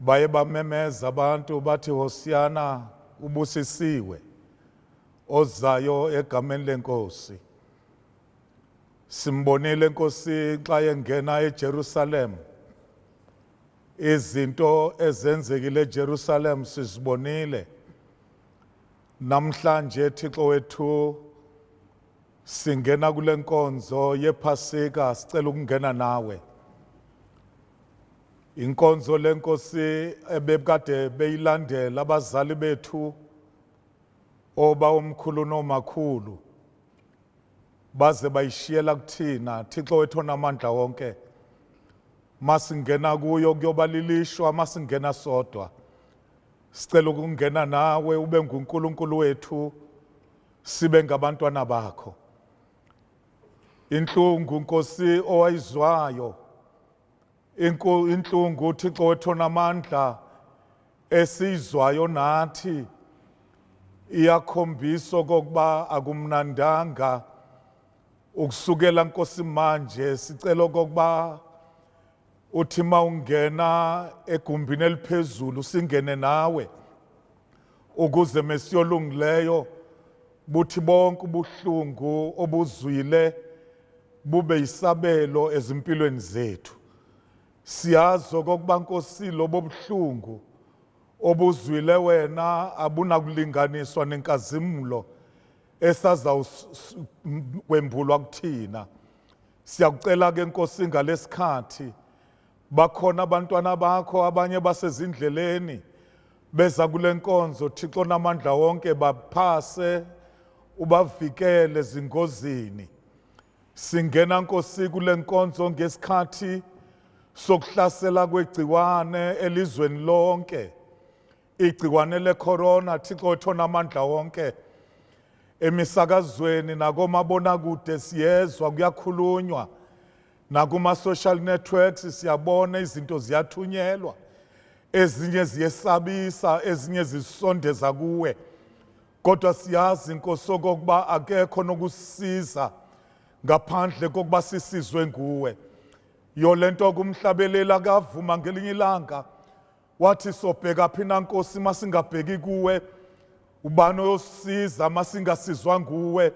Baye bamemeza abantu bathi Hosiyana ubusisiwe ozayo egameni lenkosi. Simbonile inkosi xa yengena eJerusalem. Izinto ezenzekile eJerusalem sizibonile. Namhlanje Thixo wethu singena kule nkonzo yephasika sicela ukungena nawe Inkonzo lenkosi ebebukade beyilandela abazali bethu oba omkhulu nomakhulu baze bayishiyela kuthina Thixo wethu onamandla wonke masingena kuyo kuyoba lilishwa masingena sodwa sicela ukungena nawe ube nguNkulunkulu wethu sibe ngabantwana bakho inhlungu nkosi owayizwayo Inku inhlungu uThixo wethu onamandla esiyizwayo nathi iyakhombisa okokuba akumnandanga ukusukela Nkosi manje sicela okokuba uthi mawungena egumbini eliphezulu singene nawe ukuze mesiyolungileyo buthi bonke ubuhlungu obuzwile bube isabelo ezimpilweni zethu siyazi okokuba nkosi lobo buhlungu obuzwile wena abunakulinganiswa nenkazimulo esazawukwembulwa kuthina siyakucela ke nkosi ngalesikhathi Bakhona abantwana bakho abanye basezindleleni beza kule nkonzo Thixo namandla wonke baphase ubavikele zingozini singena nkosi kule nkonzo ngesikhathi sokuhlasela kwegciwane elizweni lonke igciwane lecorona Thixo wethu namandla wonke emisakazweni nakomabonakude siyezwa kuyakhulunywa Nakuma-social networks siyabona izinto ziyathunyelwa ezinye ziyesabisa ezinye zisondeza kuwe kodwa siyazi inkosi okokuba akekho nokusiza ngaphandle kokuba sisizwe nguwe yolento kumhlabeleli akavuma ngelinye ilanga Wathi sobhekaphi na Nkosi masingabheki kuwe ubani oyosisiza masingasizwa nguwe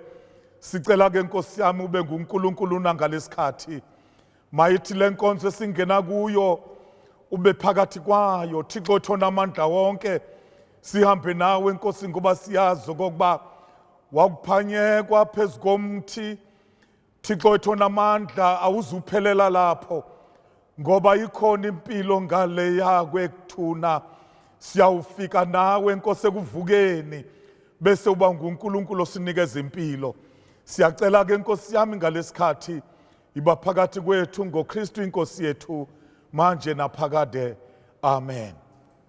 sicela ke Nkosi yami ube nguNkulunkulu nangalesikhathi mayithi lenkonzo esingena kuyo ube phakathi kwayo Thixo thona amandla wonke sihambe nawe Nkosi ngoba siyazi okokuba wakuphanyekwa phezu komthi Thixo wethu onamandla awuzuphelela lapho ngoba ikhona impilo ngaleya kwekuthuna siyawufika nawe nkosi ekuvukeni bese uba nguNkulunkulu osinikeza impilo siyacela ke nkosi yami ngalesikhathi iba phakathi kwethu ngoKristu inkosi yethu manje naphakade amen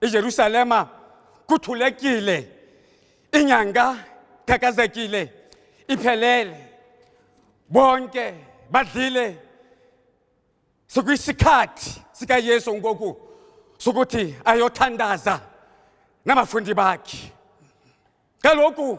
ijerusalema kuthulekile inyanga qhaqhazekile iphelele bonke badlile sikuyisikhathi sikayesu ngoku sokuthi ayothandaza nabafundi bakhe kaloku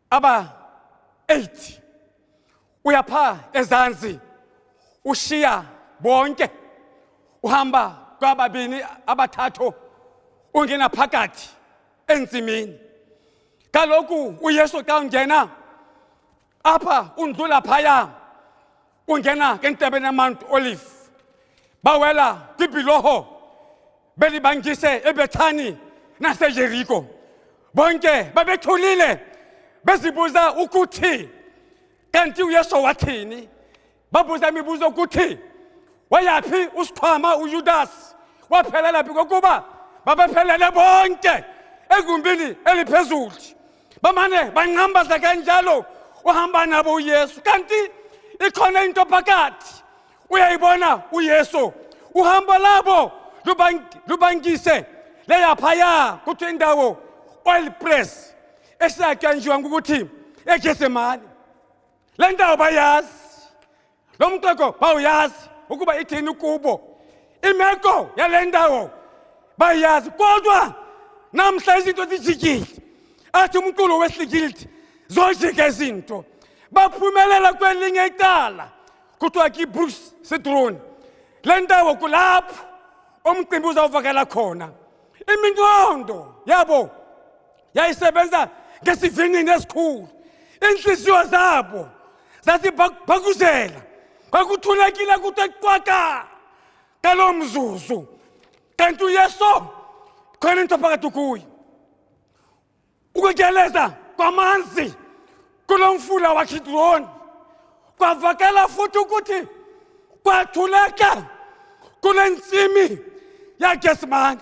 aba 8 uyapha ezansi ushiya bonke uhamba kwababini abathathu ungena phakathi ensimini kaloku uyesu xa ungena apha undlula phaya ungena ke entabeni yamount olive bawela kwibhiloho belibangise ebethani nasejeriko bonke babethulile bezibuza ukuthi kanti uyesu wathini babuza imibuzo ukuthi wayaphi usikhwama uyudasi waphelela phi kokuba babephelele bonke egumbini eliphezulu bamane banqambaza kanjalo uhamba nabo uyesu kanti ikhona into phakathi uyayibona uyesu uhamba labo lubangise leyaphaya kuthiwa indawo oil press esatshanjiwa ngokuthi egesemane le ndawo bayazi Lo mxoxo bawuyazi ukuba ithini kubo. Imeko yale ndawo bayazi kodwa namhla izinto zijikile. Athi umculo weslikilti zojika izinto. Baphumelela kwelinye icala kuthiwa ki-Bruce Citron. Le ndawo kulapho umcimbi uzawuvakala khona. Iminqondo yabo yayisebenza ngesivinini esikhulu inhliziyo zabo zazibhakuzela kwakuthulekile kuthe qwaka ngalo mzuzu kanti uyeso khona into phakathi kuye ukutyeleza kwamanzi kulo mfula wakidroni kwavakala futhi ukuthi kwathuleka kule ntsimi yagesimane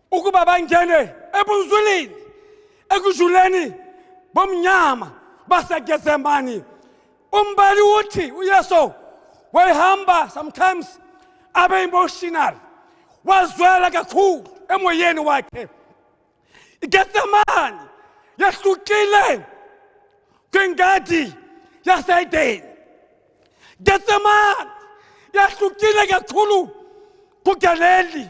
ukuba bangene ebunzulini ekujuleni bomnyama basegezemani umbali uthi uyesu wayehamba sometimes abe emotional wazwela kakhulu emoyeni wakhe igetsemani yahlukile kwingadi yaseedeni getsemani yahlukile kakhulu kugaleli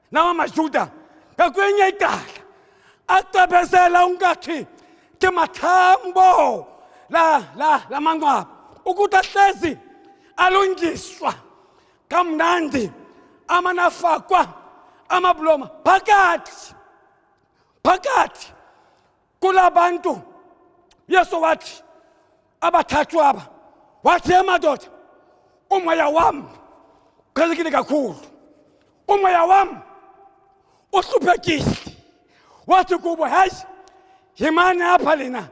nawa majuda ngakwenye icala acebezela ungathi ke mathambo la la lamanqwaba ukuthi ahlezi alungiswa kamnandi amanafakwa amabuloma phakathi phakathi kulabantu yesu wathi abathathu aba wathi ye madoda umoya wami uqhelekile kakhulu umoya wami uhluphekile wathi kubo hayi yimani apha lina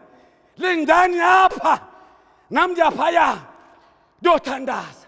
lindani apha nam ndiyaphaya ndiyothandaza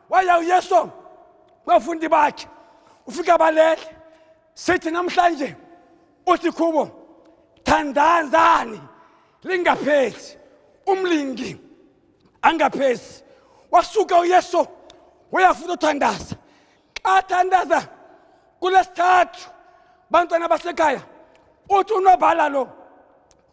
waya uyeso kwafundi bakhe ufika balele sithi namhlanje uthi kubo thandazani lingaphezi umlingi angaphezi wasuka uyeso wayafuna uthandaza xa thandaza kulesithathu bantwana basekhaya uthi unobhala lo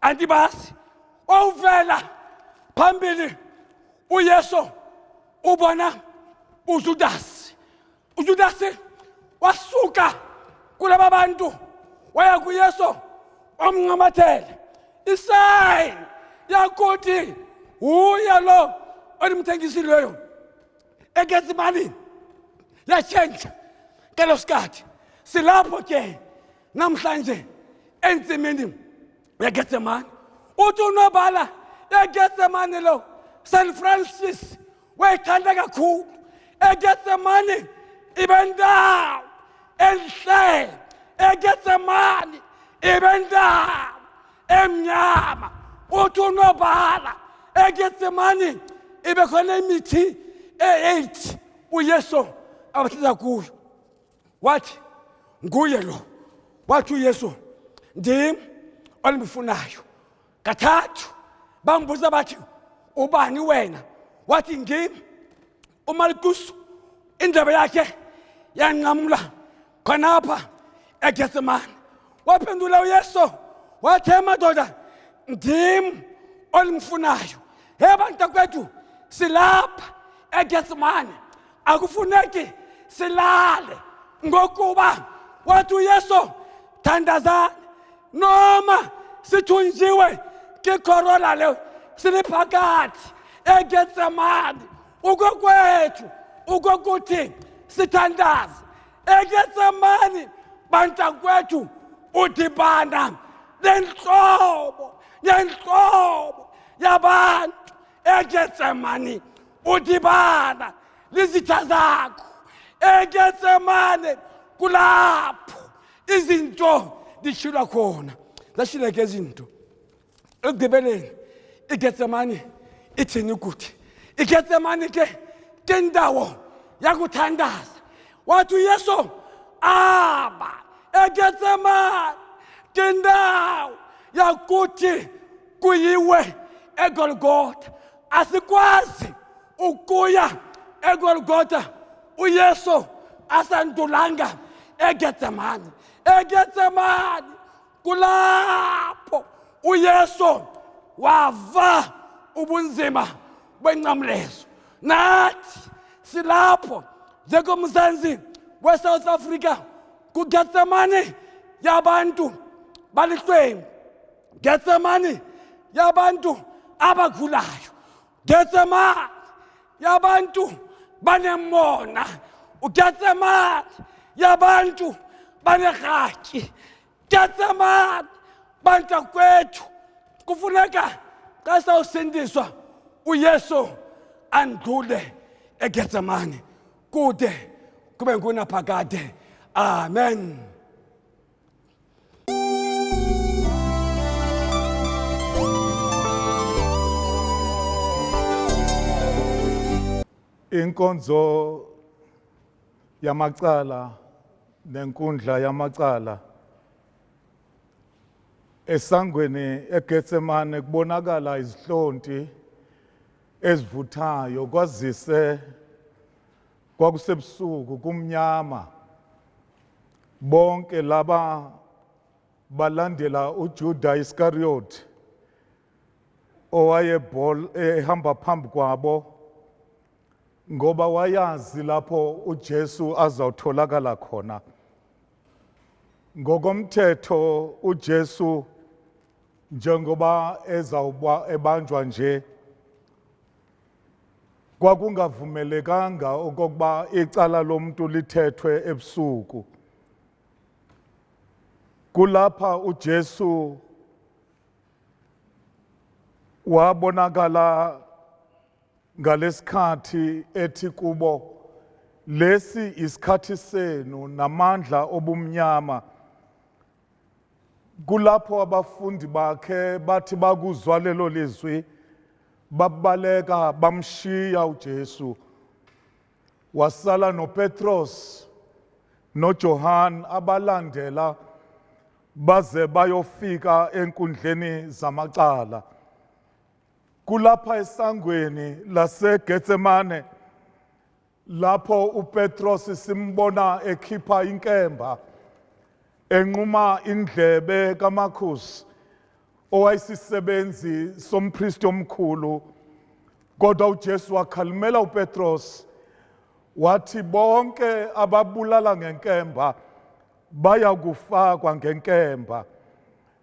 andibazi wawuvela phambili uyesu ubona ujudasi ujudasi wasuka kulaba bantu waya kuyesu wamncamathela isayini yakuthi wuye lo olimthengisileyo egenza imali yatshentsha ngelo sikhathi silapho ke namhlanje ensimini yegetsemane uthi unobhala egetsemane lo st francis wayithanda kakhulu egetsemane ibe ndawo enhle egetsemane ibe ndawo emnyama uthi unobhala egetsemane ibe khona imithi e-eight uyesu abahlala kuyo wathi nguye lo wathi uyesu ndim olimfunayo kathathu bambuza bathi ubani wena wathi ngim umalikusu indlebe yakhe yanqamula khonapha egetsemane waphendula uyesu wathi emadoda ndim olimfunayo he bantakwethu silapha egetsemane akufuneki silale ngokuba wathi uyesu thandazani noma sithunjiwe ke corona leyo siliphakathi egetsemane ukokwethu ukokuthi sithandaze egetsemane bantakwethu udibana nenhlobo yenhlobo yabantu egetsemane udibana lizitha zakho egetsemane kulapho izinto dishilwa khona zashileke izinto ekugqibeleni igetsemane ithini ukuthi igetsemane ke ke ndawo yakuthandaza Wathi uYesu aba eGetsemane ngendawo yakuthi kuyiwe eGolgotha. Asikwazi ukuya eGolgotha uYesu asandulanga eGetsemane. eGetsemane kulapho uyesu wava ubunzima benqamlezo nathi silapho njengomzansi wesouth africa kugetsemane yabantu balihlwengu getsemane yabantu abagulayo Getsemane yabantu banemona uGetsemane yabantu banerhatyi Getsemane bantu kwethu kufuneka xa sawusindiswa uYesu andule eGetsemane kude kube ngunaphakade amen inkonzo yamacala nenkundla yamacala esangweni eGetsemane kubonakala izihlonti ezivuthayo kwazise Kwakusebusuku kumnyama. Bonke laba balandela uJuda Iscariot owayebhol ehamba phambi kwabo ngoba wayazi lapho uJesu azawutholakala khona. Ngokomthetho uJesu njengoba ezawuba ebanjwa nje Kwakungavumelekanga okokuba icala lomntu lithethwe ebusuku. Kulapha uJesu wabonakala ngalesikhathi ethi kubo lesi isikhathi senu namandla obumnyama Kulapho abafundi bakhe bathi bakuzwa lelo lizwi babaleka bamshiya uJesu. Wasala noPetros noJohane abalandela baze bayofika enkundleni zamacala. Kulapha esangweni laseGetsemane Lapho uPetros simbona ekhipha inkemba enquma indlebe kaMarcus owayisisebenzi sompristi omkhulu kodwa uJesu wakhalimela uPetros wathi bonke ababulala ngenkemba baya kufakwa ngenkemba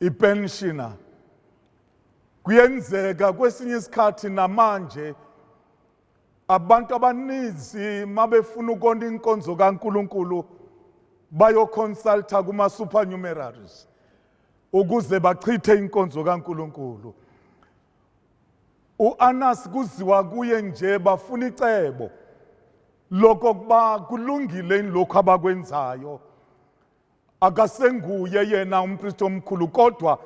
ipenshina kuyenzeka kwesinye isikhathi namanje abantu abaninzi mabefuna ukona inkonzo kaNkuluNkulu bayoconsulta kuma supernumeraries ukuze bachithe inkonzo kaNkuluNkulu uAnas kuziwa kuye nje bafuna icebo lokokuba kulungile lokho abakwenzayo akasenguye yena umpristi omkhulu kodwa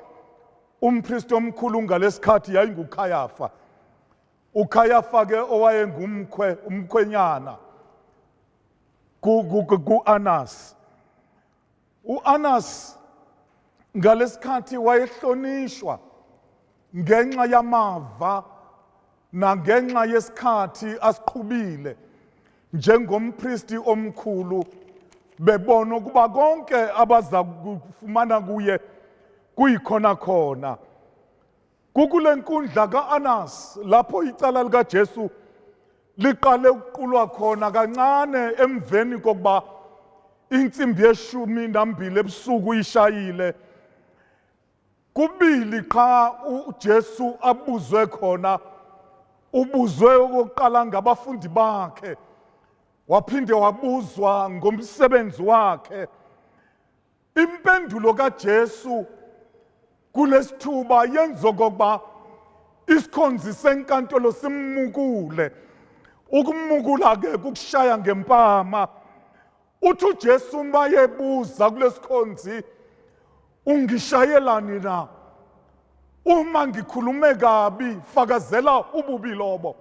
umpristi omkhulu ngalesikhathi yayingukhayafa ukhayafa ke owayengumkhwe umkhwenyana ku-anas u-anas ngalesikhathi wayehlonishwa ngenxa yamava nangenxa yesikhathi asiqhubile njengompristi omkhulu bebona ukuba konke abaza kufumana kuye kuyikhona khona kukule nkundla ka-anas lapho icala likajesu liqale ukuqulwa khona kancane emveni kokuba intsimbi yeshumi nambili ebusuku ishayile Kubili qha uJesu abuzwe khona ubuzwe okokuqala ngabafundi bakhe waphinde wabuzwa ngomsebenzi wakhe impendulo kaJesu kulesithuba yenza okokuba isikhonzi senkantolo simukule ukumukula ke kukushaya ngempama uthi uJesu uma yebuza kulesikhonzi ungishayelani na uma ngikhulume kabi fakazela ububi lobo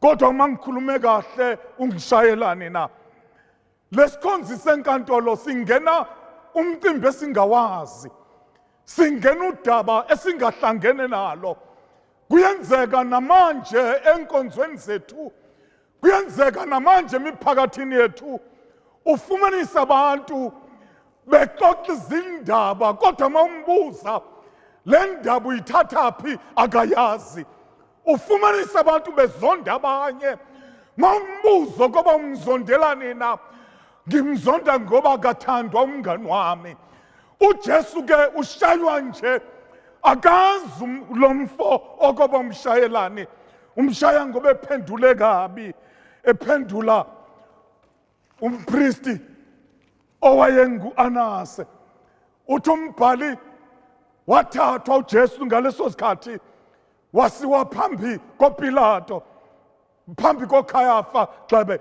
kodwa uma ngikhulume kahle ungishayelani na lesikhonzi senkantolo singena umcimbi esingawazi singena udaba esingahlangene nalo kuyenzeka namanje enkonzweni zethu Kuyenzeka namanje emiphakathini yethu ufumanisa abantu bexoxa izindaba kodwa uma umbuza le ndaba uyithatha phi akayazi ufumanisa abantu bezonda abanye uma umbuzo koba umzondelani na ngimzonda ngoba kathandwa umngani wami uJesu ke ushaywa nje akazi um, lo mfo okoba umshayelani umshaya ngoba ephendule kabi ephendula umpristi owayengu-anase uthi umbhali wathathwa ujesu ngaleso sikhathi wasiwa phambi kopilato phambi kokhayafa gxebe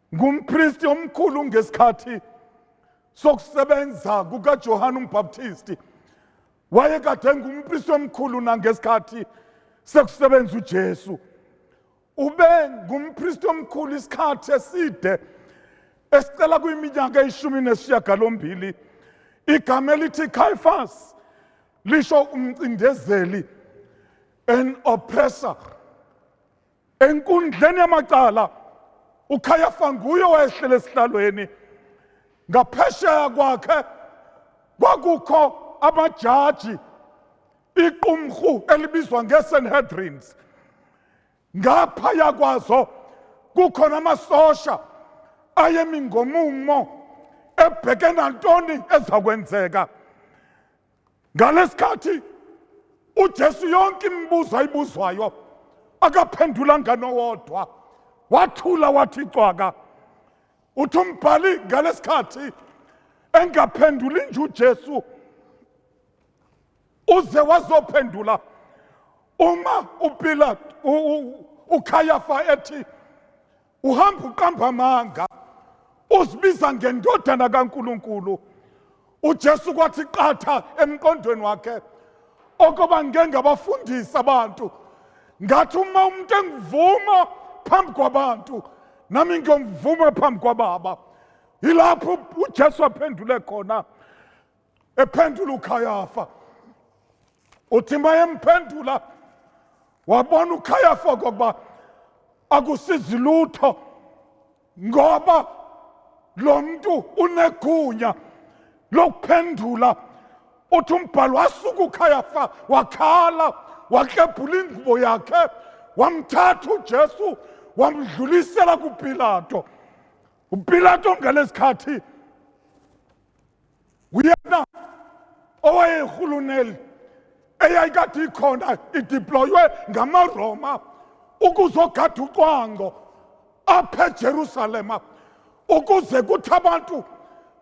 Ngumpristi omkhulu ngesikhathi sokusebenza kukaJohane uMbhaptisti. Wayekade engumpristi omkhulu nangesikhathi sekusebenza uJesu. Ube ngumpristi omkhulu isikhathi eside esicela kwiminyaka eyishumi nesishiyagalombili. Igama elithi Caiaphas lisho umcindezeli an oppressor Enkundleni yamacala uKhayafa nguye owayehlele esihlalweni ngaphesheya kwakhe kwakukho amajaji iqumrhu elibizwa ngeSanhedrins ngapha yakwazo kukhona amasosha ayemi ngomumo ebheke nantoni ezakwenzeka ngalesikhathi uJesu yonke imibuzo ayibuzwayo akaphendula nganowodwa wathula wathi cwaka uthi umbhali ngalesikhathi engaphenduli nje uJesu uze wazophendula uma uPilate uKhayafa ethi uhamba uqamba amanga uzibiza ngendodana kaNkuluNkulu uJesu kwathi qatha emqondweni wakhe okoba ngike ngabafundisa abantu ngathi uma umuntu engivuma phambi kwabantu nami ngiyomvuma phambi kwababa yilapho uJesu aphendule khona Ephendula uKhayafa. Uthi mayemphendula wabona uKhayafa okokuba akusizi lutho ngoba lo mntu unegunya lokuphendula uthi umbhalo wasuka ukhayafa wakhala waklebhula ingubo yakhe wamthatha ujesu wamdlulisela kupilato upilato ngalesi khathi uyena owayehuluneli eyayikade ikhona idiploywe ngamaroma ukuzogada ucwango apha ejerusalema ukuze kuthi abantu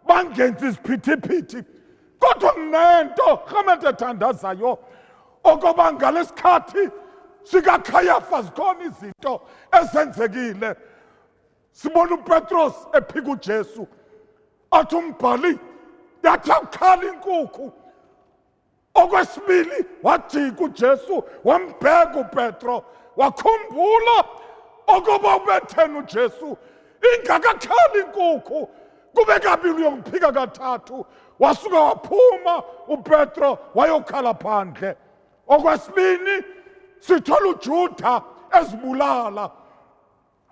bangenzi iziphithiphithi kodwa nginento rhamente ethandazayo okoba ngalesikhathi sikakhayafa zikhona izinto ezenzekile sibona upetros ephika ujesu athi umbhali yathi akukhala inkukhu okwesibili wajika ujesu wambheka upetro wakhumbula okoba ubethena ujesu ingakakhali inkukhu kube kabili uyokuphika kathathu wasuka waphuma upetro wayokhala phandle okwesibini sithola ujuda ezibulala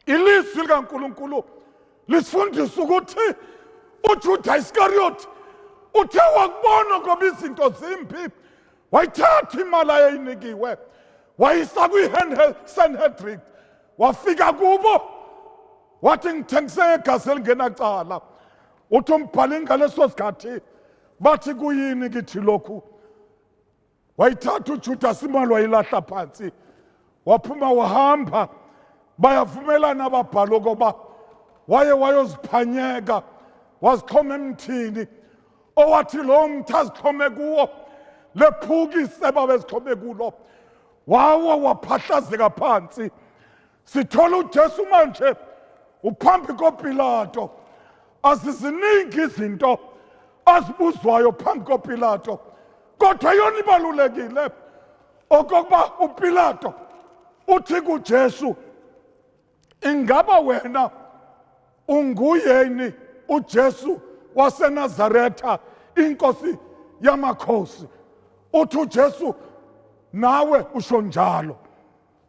Ilizwi likaNkulunkulu lisifundisa ukuthi uJuda Iscariot uthe wakubona ngoba izinto zimbi wayithatha imali ayeyinikiwe wayisa kwi-sanhedrin wafika kubo wathi ngithengise ngegazi elingenacala uthi umbhali ngaleso sikhathi bathi kuyini kithi lokhu wayithatha uJudasi imali wayilahla phansi waphuma wahamba bayavumelana ababhali okoba waye wayoziphanyeka wazixhoma emthini owathi lowo mthi azixhome kuwo lephuka iseba bezixhome kulo wawa waphahlazeka phansi sithola uJesu manje uphambi koPilato aziziningi izinto azibuzwayo phambi koPilato kodwa yona ibalulekile okokuba uPilato uthi kuJesu ingaba wena unguyeni uJesu waseNazaretha inkosi yamakhosi uthi uJesu nawe usho njalo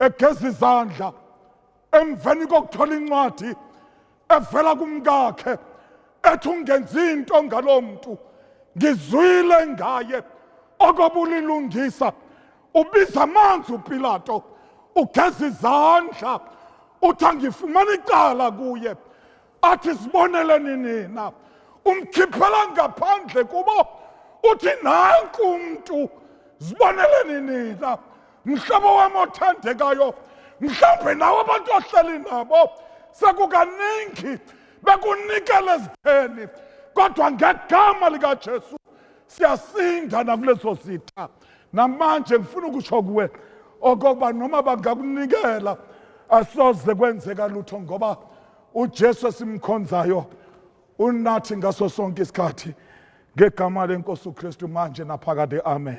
egeza izandla emveni kokuthola incwadi evela kumkakhe ethi ungenzi into ngalowo muntu ngizwile ngaye okobulilungisa ubiza amanzi upilato ugeza izandla uthi angifumana icala kuye athi siboneleni nina umkhiphela ngaphandle kubo uthi nanku umntu ziboneleni nina mhlobo wami othandekayo mhlawumbe nawe abantu ohleli nabo sekukaningi bekunikela ezitheni kodwa ngegama likajesu siyasinda nakuleso sitha namanje ngifuna ukusho kuwe okokuba noma bangakunikela asoze kwenzeka lutho ngoba uJesu esimkhonzayo unathi ngaso sonke isikhathi ngegama lenkosi uKristu manje naphakade amen